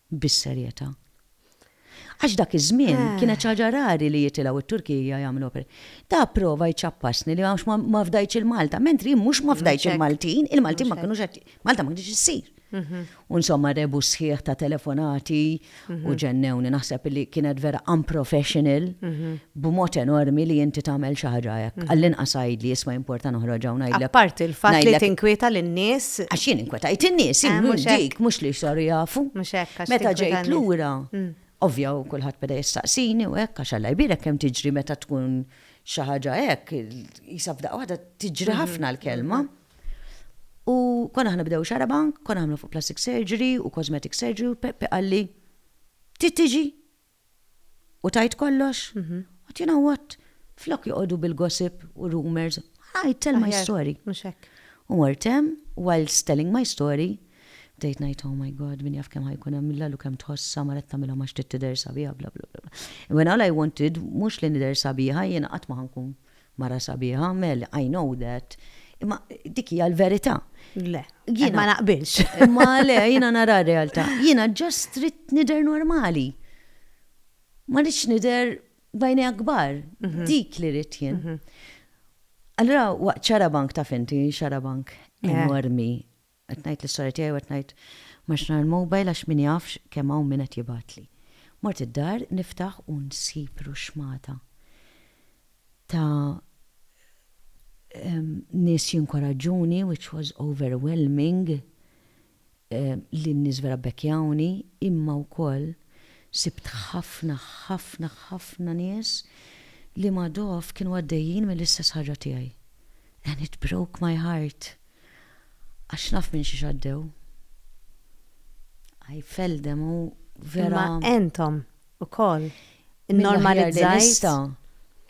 bis-serjetà. Għax dak iż-żmien kienet xi ħaġa rari li jitilgħu t-Turkija jagħmlu opera. Ta' prova jċappasni li għax ma fdajtx il-Malta, mentri jien mhux ma fdajtx il-Maltin, il-Maltin ma kinux qed Malta ma kinitx issir. U insomma rebus sħiħ ta' telefonati u ġennewni. Naħseb li kienet vera unprofessional b'mod enormi li inti tagħmel xi ħaġa hekk. Għall-inqas għidli, isma' jimporta noħroġ hawn ngħidlek. Apparti l-fatt li tinkwieta lin-nies. Għax jien inkwetajt in-nies, hi mhux dik, mhux li saru jafu. Mhux hekk għax tinkweta lin-nies. Meta ġejt lura, ovvja u kulħadd beda jistaqsini u hekk għax Alla jbierek kemm tiġri meta tkun xi ħaġa hekk, qisha f'daqqa waħda tiġri ħafna l-kelma. U konna aħna bdew xarabank, konna nagħmlu fuq plastic surgery u cosmetic surgery u Peppi qalli, Trid tiġi? U tajt kollox? Mhm. But you know what? Flok joqogħdu bil-gossip u rumors, I tell my story. U mortem, whilst telling my story, bdejt ngħid, oh my god, min jaf kemm ħajkun hemm illa lu kemm tħossha mara tagħmilha ma xtiet tidher sabiħa bla bla bla. When all I wanted mhux li nidher sabiħa jiena qatt ma ħankun Mara sabiħa Mel, I know that. Imma dik hija l-verità. Le, jien ma naqbilx. Imma le, jiena nara r-realtà. Jiena ġast trid nidher normali. Ma rridx nidher bajni akbar. Mhm. Dik li rrid jien. Mhm. Allura waqt xarabank taf inti xarabank eh. enormi Qed ngħid lis-sorja tiegħi u qed ngħid, M'għadx nara l-mobile għax min jaf kemm hawn min qed jibgħatli. Mort id-dar niftaħ u nsib ruxxmata ta' nies jinkoraġġuni which was overwhelming li n-nies vera bbekjawni imma wkoll sibt ħafna ħafna ħafna nies li ma' dogħof kienu għaddejjin mill-istess ħaġa tiegħi and it broke my heart. Għax naf minn xiex għaddew. Għaj feldem u vera. Ma entom u koll. Normalizzajt.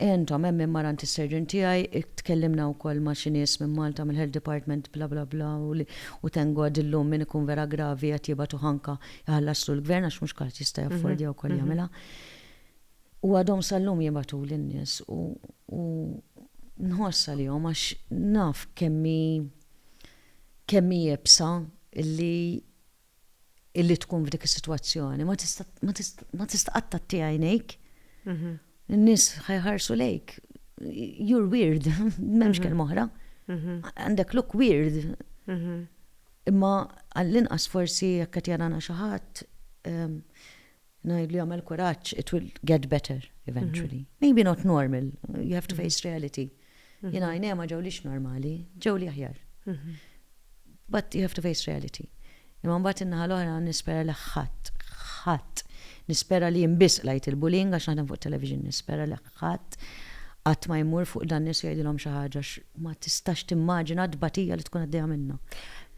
Entom, hemm marant is-serġin tiegħi, tkellimna wkoll ma' xi nies minn Malta mill-Health Department bla bla bla u tengod illum min ikun vera gravi qed jibgħatu ħanka jħallaslu l-gvern għax mhux kulħadd jista' jaffordja wkoll jagħmilha. U għadhom sal-lum jibgħatuli n-nies u u nħoss għalihom għax naf kemm hi kemm hi iebsa illi illi tkun f'dik is-sitwazzjoni. Ma tista' ma tista' ma tista' qatt tagħti għajnejk. In-nies ħa jħarsu lejk. You're weird, m'hemmx kelma oħra. Għandek look weird. Imma għall-inqas forsi jekk qed jarana xi ħadd Ngħidlu jagħmel kuraġġ, it will get better eventually. Maybe not normal, you have to face reality. Jien għajnejja ma ġewlix normali, ġewli aħjar. But you have to face reality. Imma mbagħad in-naħa l-oħra nispera li ħadd, ħadd, nispera li jien biss qlajt il-bullying għax naħdem fuq television, nispera li Ħadd qatt ma jmur fuq dan nies u jgħidilhom xi ħaġa għax ma tistax timmaġina t-tbatija li tkun għaddejja minnha.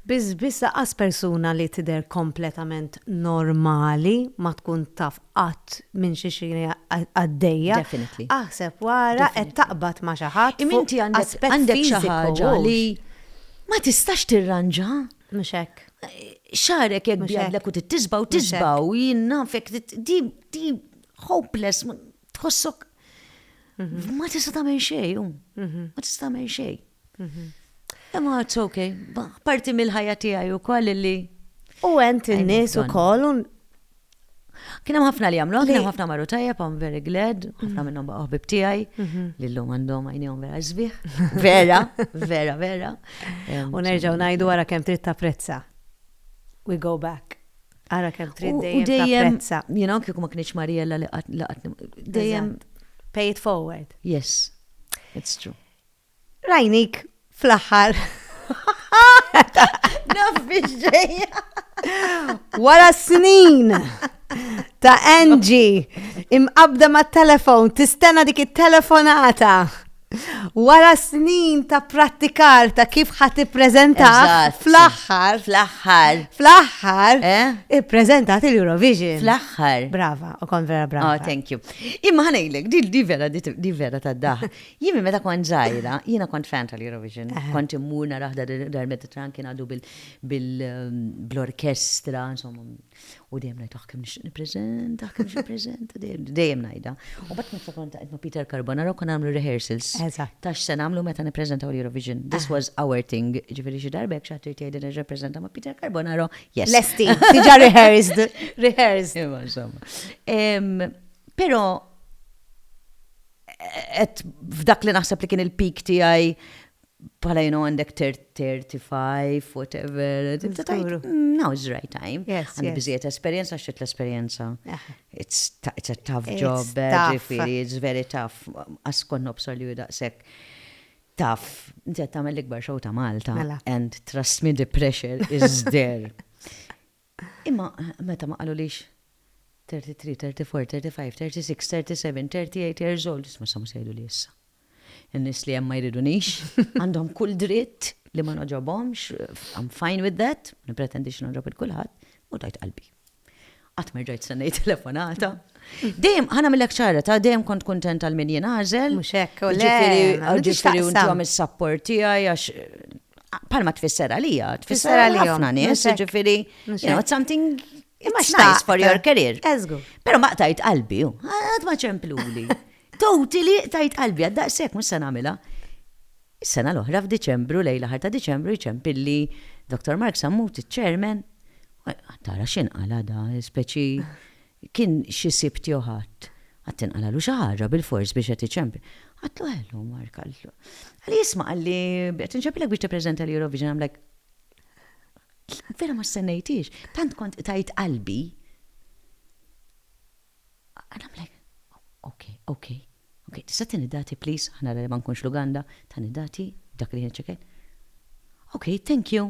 Biss biss laqqas persuna li tidher kompletament normali ma tkun taf qatt minn xi xi għaddejja. Definitely. Aħseb wara qed taqbad ma' xi ħadd fuq aspett fiżiku. Imma inti għandek xi ħaġa li ma tistax tirranġa. Mhux hekk. Xagħrek jekk bjadlek u trid tisbgħu tisbgħu, jien nafek, di hopeless. tħossok mhm. ma tista' tagħmel xejn, mhm. ma tista' tagħmel xejn. Mhm. Imma it's okay, parti mill-ħajja tiegħi wkoll li. U ent in-nies ukoll Kien hemm ħafna li jagħmlu, kien hemm ħafna marru tajjeb, I'm very glad, ħafna mm-hmm. minnhom baqgħu ħbib tiegħi, mm-hmm. li llum għandhom għajnihom vera żbieħ. Vera, vera, vera. U nerġgħu ngħidu wara kemm trid tapprezza. We go back. Ara kemm trid dejjem tapprezza. Jien anke ma kienx Mariella li qatt dejjem pay it forward. Yes. It's true. Rajnik fl-aħħar. Naf biex ġejja. Wara snin ta' Angie imqabda ma' telefon, tistena dik it-telefonata. Wara snin ta' prattikar ta' kif ħat ippreżenta fl-aħħar. Fl-aħħar. Fl-aħħar. Eh? Ippreżentat il-Eurovision. Fl-aħħar. Brava, u kon vera brava. Oh, thank you. Imma ħanejlek, di vera, di vera ta' daħ. Jimmi meta kont zaħira, jina kont fan tal-Eurovision. Eh. Kont immur naraħda dar-Mediterran kien għadu bil-orkestra, insomma, U dejjem ngħid ah kemm nixtieq nippreżenta, kemm nixtieq nippreżenta, dejjem ngħidha. U bat nifsa kont qed ma' Peter Carbonaro kon nagħmlu rehearsals. Ta' x'se nagħmlu meta nippreżentaw l-Eurovision. This was our thing. Ġifieri xi darba jekk xi ħadd irid jgħidilna nirrappreżenta ma' Peter Carbonaro, yes. Lesti, diġà rehearsed, rehearsed. Imma insomma. Però qed f'dak li naħseb li kien il-peak tiegħi Bħala jenu għandek 35, whatever. Now is the right time. Għandek biżiet esperienza, xċet l-esperienza. It's a tough job, ġifiri, it's very tough. Askon nobsor li daqsek tough. Inti għattamel l-ikbar xow ta' Malta. Mela. And trust me, the pressure is there. Imma meta ma qalulix, 33, 34, 35, 36, 37, 38 years old, isma' sa mhu se jgħiduli issa. In-nies li hemm ma jridunix, għandhom kull dritt li ma nogħġobhomx, I'm fine with that, ma nippretendix li nogħġob lil kulħadd, u tajt qalbi. Qatt ma rġajt stennejt telefonata. Dejjem, ħa nagħmillek ċara, ta' dejjem kont kuntent għal min jingħażel. Mhux hekk, u le, jiġifieri intom is-sapport tiegħi għax Palma tfisser għalija, tfisser għalija ħafna nies, ġifiri, you know, something Imma xtajs for your career. Ezgu. Pero ma tajt qalbi, għad ma ċempluli. Toti li tajt qalbi, għad daqsek, mus san għamila. Is-sena l-oħra f'Diċembru, lejla ħarta Diċembru, ċempilli Dr. Mark Sammut, ċermen, tara xin għala da, speċi Kien xi sibt jew ħadd. Qatt tinqalagħlu xi ħaġa bilfors biex qed iċempel. Għadtlu ħelu Mark, għadtlu. Qalli isma' qalli qed inċempilek biex tippreżenta l-Eurovision, I'm like Vera ma stennejthiex, tant kont qtajt qalbi. And I'm like Ok, ok, ok, tista' ttieni dati please, ħa nara li ma nkunx Luganda, tani dati, dak li kien iċ-check-in. Ok, thank you.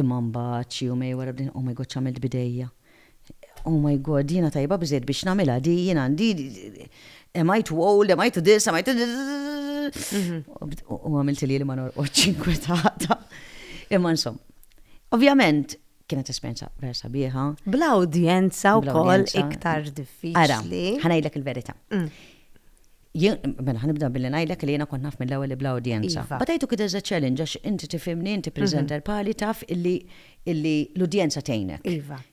Imma mbagħad xi jumej wara bdejt, oh my God x'għamilt b'idejja. Oh my God, jiena tajba biżżejjed biex nagħmilha di, jien għandi, am I too old, am I to this, am I to U għamilt li li ma norqodx inkwetata. Imma insomma, ovvjament kienet esperjenza vera sabiħa. Bla udjenza wkoll iktar diffiċli. Ara, ħanajdlek il-verità. Mm. Jien, mela ħanibda billi ngħidlek li jiena kont naf mill-ewwel li bla udjenza. But I took it as a challenge għax inti tifhimni, inti presenter bħali taf illi illi l-udjenza tgħinek.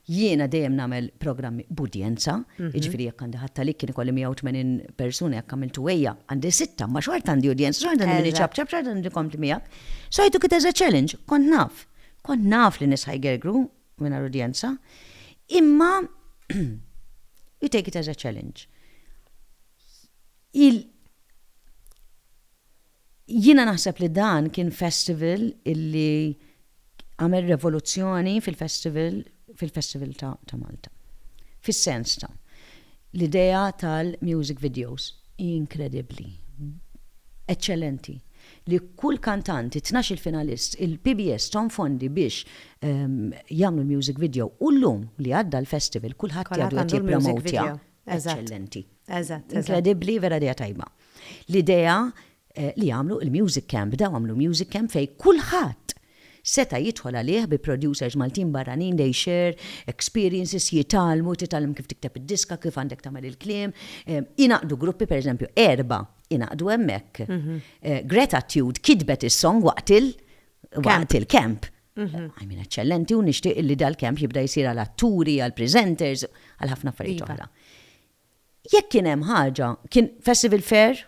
Jiena dejjem nagħmel programmi b'udjenza, jiġifieri jekk għandi ħadd għalik kien ikolli 180 persuna jekk għamilt uwejja għandi sitta imma xorta għandi udjenza, xorta għandi min iċapċap, xorta għandi min ikompli miegħek. So I took it as a challenge, kont naf. Kont naf li nies ħajgergru mingħajr udjenza, imma you take it as a challenge. Il Jiena naħseb li dan kien festival illi għamel revoluzzjoni fil-festival fil-festival ta', ta Malta. Fis-sens ta' l-idea tal-music videos inkredibbli, eċċellenti. li kull kantant, it-tnax-il finalist, il-PBS thom fondi biex jagħmlu l-music video u llum li għadda l-festival kulħadd jgħidu qed jippromotja. Eċċellenti. Inkredibbli, vera idea tajba. L-idea li jagħmlu il-music camp, bdew għamlu music camp fejn kulħadd Seta' jidħol għalih bi producers Maltin barranin, they share experiences, jitgħallmu, titgħallem kif tikteb id-diska, kif għandek tagħmel il-kliem, ingħaqdu gruppi, per eżempju, erbgħa ingħaqdu hemmhekk. Gratitude kitbet is-song waqt il- waqt il-camp. I mean, eċċellenti u nixtieq li dal-camp jibda jsir għal atturi, għal presenters, għal ħafna affarijiet oħra. Jekk kien hemm ħaġa, kien Festival Fair,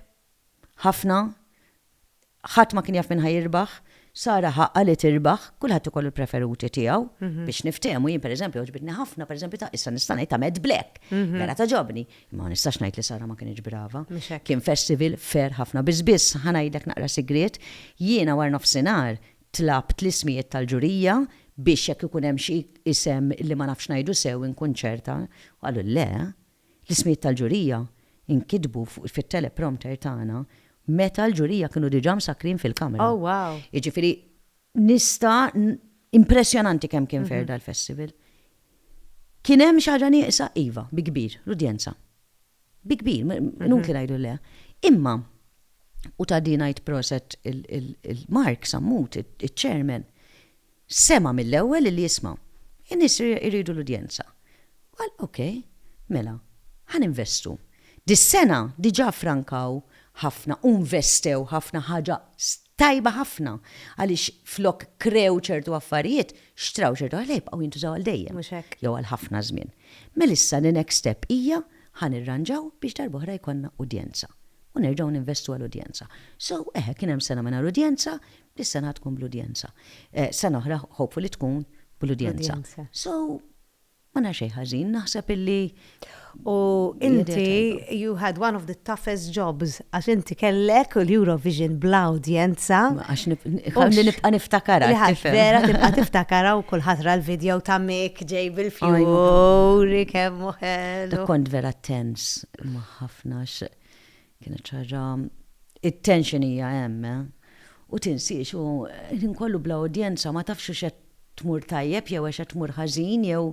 ħafna, ħadd ma kien jaf min ħa jirbaħ, Sara ħa għali tirbaħ, kulħadd ikollu l-preferuti tiegħu, biex niftehmu jien pereżempju għoġbitni ħafna pereżempju ta' issa nista' ngħid ta' Mad Black, vera tagħġobni, imma ma nistax ngħid li Sara ma kinitx brava. Kien festival fair ħafna. Biss biss ħa ngħidlek naqra sigriet, jiena warnofsinhar tlabt l-ismijiet tal-ġurija biex jekk ikun hemm xi isem li ma nafx ngħidu sew inkun ċerta, u qalu le, L-ismijiet tal-ġurija nkitbu fuq fit-teleprompter tagħna meta l-ġurija kienu diġà msakkrin fil-kamra. Oh wow! Jiġifieri nista' impressjonanti kemm kien fair dal-festival. Kien hemm xi ħaġa nieqsa? Iva, bi kbir, l-udjenza. Bi kbir, inutli ngħidu le. Imma, u ta' din ngħid proset il-Mark Sammut, iċ-chairman, Sema' mill-ewwel illi jisma'. In-nies iridu l-udjenza. Qal, ok, mela, ħa ninvestu. Dis-sena diġà ffrankaw ħafna u nvestew ħafna ħaġa tajba ħafna għaliex flok krew ċertu affarijiet, xtraw ċertu ħaġat li jibqgħu jintużaw għal dejjem. Mhux hekk. Jew għal ħafna żmien. Mela issa the next step hija ħa nirranġaw biex darba oħra jkollna udjenza. U nerġgħu ninvestu għal udjenza. So, eħe, kien hemm sena mingħajr udjenza, Dis-sena tkun bl-udjenza. Sena oħra hopefully tkun bl-udjenza. So, ma nara xejn ħażin, naħseb illi. U inti you had one of the toughest jobs għax inti kellek l-Eurovision bla udjenza. Għax nibqa' niftakarha. Vera tibqa' tiftakarha u kulħadd ra l-video ta' Mick ġej bil-fjuri kemm hu ħelu. Kont vera tense ma' ħafna Kienet xi ħaġa it-tension hija hemm, eh! U tinsiex u l-ħin kollu bla udjenza, ma tafx hux qed tmur tajjeb jew għax qed tmur ħażin jew.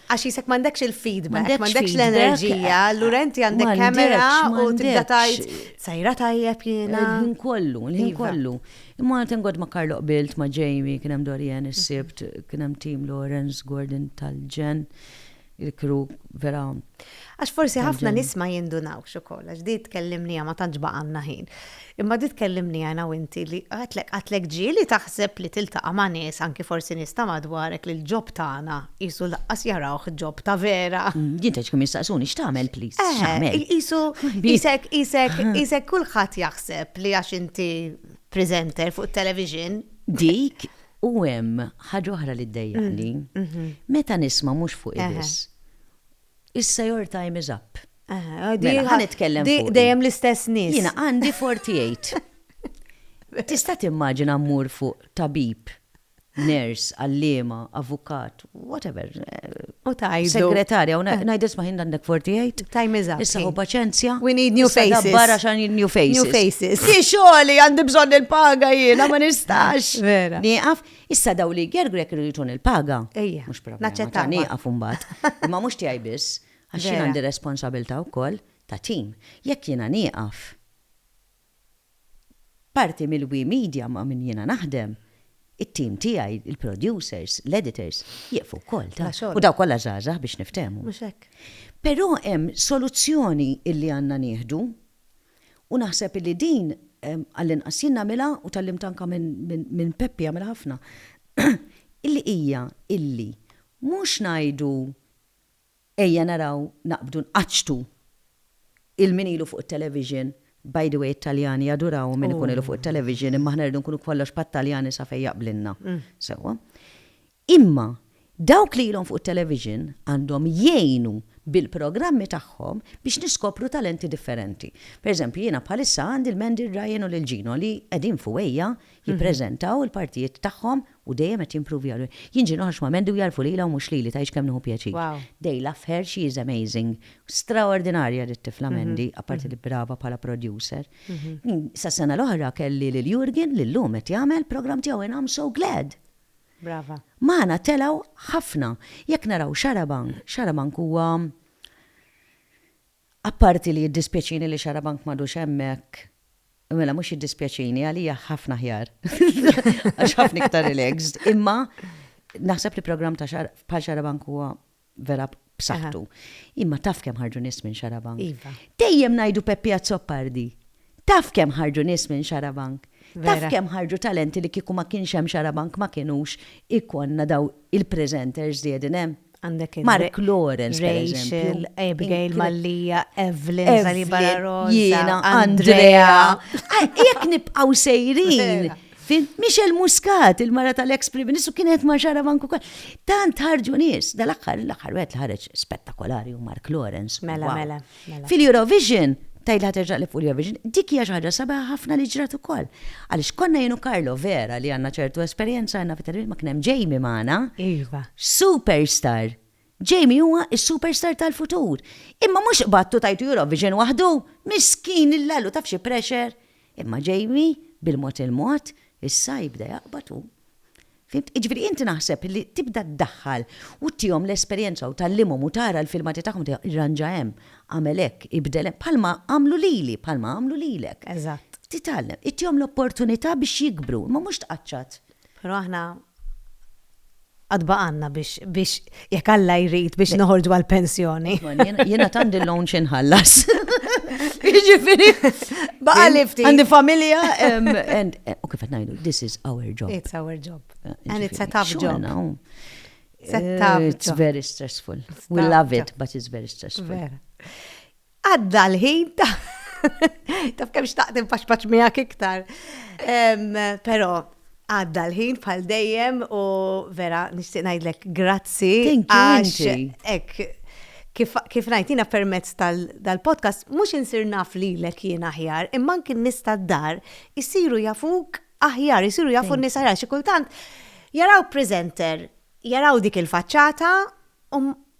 Għax jisek m'għandekx il-feedback, m'għandekx l-enerġija, allura inti għandek kamera u tibda tgħid sejra tajjeb jiena. Il-ħin kollu, il-ħin kollu. Imma qed inqgħod ma' Carlo qbilt ma' Jamie, kien hemm Dorian is-Sibt, kien hemm Tim Lawrence, Gordon tal-Ġenn. il-crew vera. Għax forsi ħafna nies ma jindunawx ukoll, għax di tkellimnija ma tantx baqanna ħin. Imma di tkellimnija jana winti li għatlek għatlek ġieli taħseb li tiltaqa' ma' nies anki forsi nies ta' madwarek li l-ġob tagħna qisu laqqas jarawh ġob ta' vera. Mm, Jinteġ kemm jistaqsuni x'tagħmel please? Eh, x'tagħmel? Qisu isek isek isek kulħadd jaħseb li għax inti presenter fuq television. Dik U hemm ħaġa oħra li ddejjaqni, meta nisma' mhux fuqi biss, Issa your time is up. Mela, ħa nitkellem fuqi. Di dejjem l-istess nies. Jiena għandi 48. Tista' timmaġina mmur fuq tabib, nurse, għalliema, avukat, whatever. U tajdu. Segretarja, u najd isma ħin għandek 48. Time is up. Issa u paċenzja. We need new faces. Barra xan new faces. New faces. Ki xoli għandi bżon il-paga jiena ma nistax. Vera. Niqaf, issa daw li gergrek rritun il-paga. Ejja. Mux problema. Naċċetta. Niqaf umbat. Ma mux tijaj bis. Għaxin għandi responsabilta u koll ta' tim. Jekk jiena niqaf. Parti mill-We Media ma' min jiena naħdem, it-tim tiegħi, il-producers, l-editors, jieqfu wkoll, taf. Bla xogħol. U dawn kollha żgħażagħ biex niftehmu. Mhux hekk. Però hemm soluzzjoni illi għandna nieħdu u naħseb illi din għall-inqas jien nagħmilha u tgħallimt anke minn Peppi jagħmilha ħafna, illi hija illi mhux ngħidu Ejja naraw naqbdu nqaċċtu il min ilu fuq it-television, by the way it-Taljani jaduraw min ikun ilu fuq it-television imma aħna rridu nkunu kollox bħat-Taljani sa fejn jaqblilna. Sewwa. Imma dawk li ilhom fuq it-television għandhom jgħinu bil-programmi tagħhom biex niskopru talenti differenti. Per eżempju jiena bħalissa għandi lil Mandy, lil Ryan u lil Gino li qegħdin f'UEIA jippreżentaw il-partijiet tagħhom U dejjem qed jimprovja. Jien ġieli ħaxma Mandy u jagħrfu lilha u mhux lili, tgħidx kemm nieħu pjaċir. They love her, she is amazing. Straordinarja dit-tifla Mandy, apparti li brava bħala producer. Sas-sena l-oħra kelli lil Jurgen li llum qed jagħmel programm tiegħu and I'm so glad! Brava. Magħna telgħu ħafna. Jekk naraw Xarabank, Xarabank huwa Apparti li jiddispjaċini li Xarabank m'għadux hemmhekk, mela mhux jiddispjaċini, għalija ħafna aħjar. Għax ħafna iktar relaxed, imma naħseb li programm ta' bħal Xarabank huwa vera b'saħħtu. Imma taf kemm ħarġu nies minn Xarabank. Iva. Dejjem ngħidu Peppi Azzopardi. Taf kemm ħarġu nies minn Xarabank? Taf kemm ħarġu talenti li kieku ma kienx hemm Xarabank ma kienux ikollna dawn il-presenters li qegħdin hemm? Mark Lawrence, Rachel, Abigail Mallia, Evelyn, Zaliba Rosa, Andrea. Jekk nibqgħu sejrin. Michel Muscat, il-mara tal-ex Prim Ministru kienet ma' xara banku kol. Tant ħarġu nies, dal-axħar, l-axħar wet ħareġ spettakolari u Mark Lawrence. Mela, mela. Mela. Fil-Eurovision, tgħidli ħaterġa' li fuq l-Eurovision, dik hija xi ħaġa sabiħa ħafna li ġrat ukoll. Għaliex konna jien u Karlo vera li għandna ċertu esperjenza aħna fit-television ma kien hemm Jamie magħna. Iva. Superstar! Jamie huwa s-superstar tal-futur. Imma mhux qbadtu tajtu Eurovision waħdu! Miskin il-lallu taf xi pressure! Imma Jamie, bil-mod il-mod, issa jibda jaqbad hu. Fimt? Jiġifieri inti naħseb li tibda ddaħħal u tihom l-esperjenza u tgħallimhom u tara l-filmati tagħhom tgħidilhom irranġa hemm, agħmel hekk, ibdel hemm, bħalma għamlu lili, bħalma għamlu lilek. Eżatt. Titgħallem, ittihom l-opportunità biex jikbru, imma mhux tqaċċat. Però aħna għad baqgħalna biex Jekk Alla jrid biex noħorġu għal pensjoni. Jiena tandi l-loan xi nħallas. Jiġifieri. Baqa' li ftit. Għandi familja and eh, u kif qed ngħidu, this is our job. It's our job. Eh, and it's a tough job. Eh, it's very stressful. We love it, but it's very stressful. Għadda l-ħin ta' taf kemm xtaqt infaxfax miegħek iktar. Però għadda l-ħin bħal dejjem u vera nixtieq ngħidlek grazzi. Għax ek, kif najtina permezz tal-podcast, mhux insir naf lilek jien aħjar, imma anki nista d-dar isiru jafuk aħjar, isiru jafu n aħjar, xi kultant jaraw presenter, jaraw dik il-faċċata,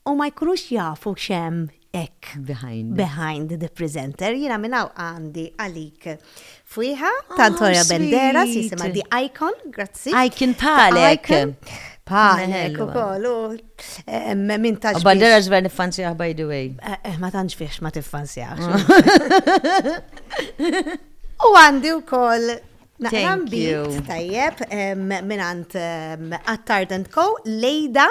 u ma jkunux jafu x'hemm hekk behind behind the presenter. Jiena minn hawn għandi għalik fwieħa ta' Antonio oh, Bendera, jisimha The Icon, grazzi. Icon palek. Palek u kollu. Min taġ. Bandera ġver nifanzjaħ by the way. Eh, eh, ma tantx fiex ma tiffanzjaħ. U għandi u koll Naqram bit, tajjeb, minant Attard Co, Lejda,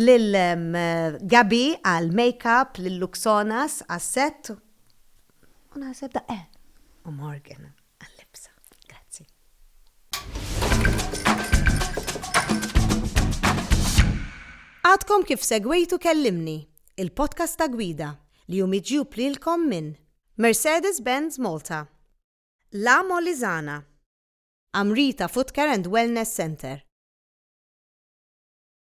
Lil Gaby għal makeup, lil Luxonas għas set u naħseb da eh u Morgan għal libsa. Grazzi. Għadkom kif segwejtu Kellimni, il-podcast ta' Gwida li hu miġjub lilkom minn Mercedes Benz Malta, La Molizana, Amrita Footcare and Wellness Centre,